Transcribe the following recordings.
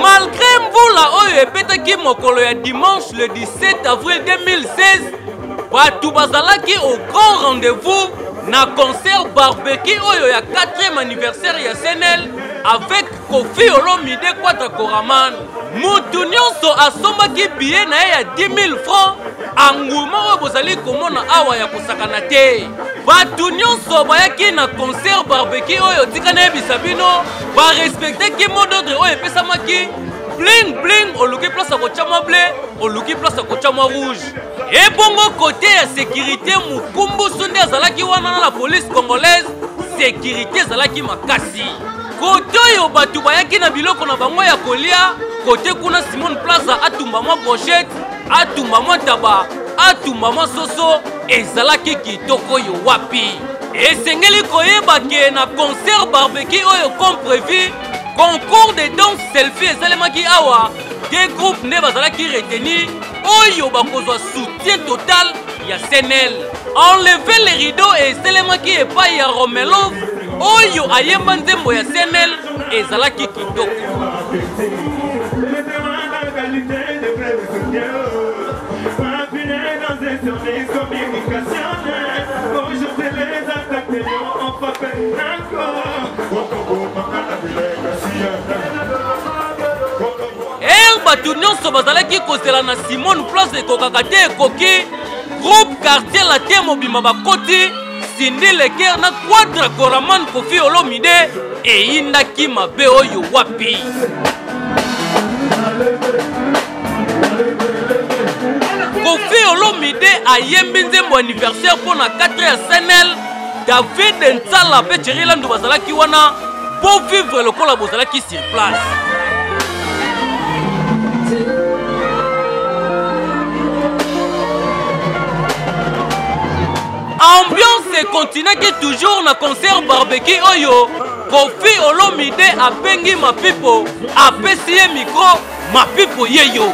malgre mvula oyo ebetaki mokolo ya dimanche le 17 avril 2016 bato bazalaki au grand rendez-vous na concert barbeki oyo ya 4e anniversaire ya senel avec kofi olomide quadra coraman moto nyonso asombaki biye na ye ya 10 000 francs anguma oyo bozali komona awa ya kosakana te bato nyonso bayaki na concert barbeki oyo tika nayebisa bino ba respecter ki mot d'ordre oyo epesamaki bling bling oluki place ya kotya mwa ble oluki place ya kotya mwa rouge ebongo kote ya sekirite mokumbusu nde azalaki wana na la police congolaise sekirite ezalaki makasi kote oyo bato bayaki na biloko na bango ya kolia kote kuna simone plaza atumba mwa brochete atumba mwa ntaba atumba mwa soso ezalaki kitoko oyo wapi esengeli koyeba ke na concert barbecue oyo comme prévu concours de danse selfie esalemaki awa de groupe nde bazalaki reteni oyo bakozwa soutien total ya senel enleve le rideau esalemaki epai ya romelov oyo ayemba nzembo ya senel ezalaki kitoko er bato nyonso bazalaki kozela na simone place ekokaka te ekoki groupe quartier latin mobimba bakoti Cindy Leker na Quadra Coraman Koffi Olomide eyindaki mabe oyo wapi? Koffi Olomide ayembi nzembo anniversaire mpo na 4 ya Senel David Nsala mpe Thierry Landu bazalaki wana mpo vivre lokola bozalaki sur place. Ambiance continuaki toujours na concert barbecue oyo Kofi Olomide abengi Mapipo apesi ye micro Mapipo yeyo.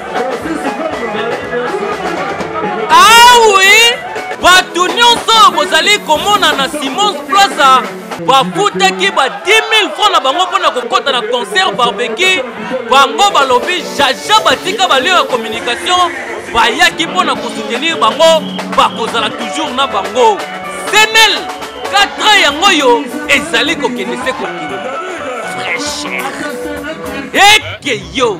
bozali komona na simons plaza bafutaki ba 10000 franc na bango mpo na kokɔta na concert barbeki bango balobi jaja batika balio ya communication bayaki mpo na kosoutenir bango bakozala toujours na bango senel 4 ans yango oyo ezali kokende se kokende fraîcheur ekeyo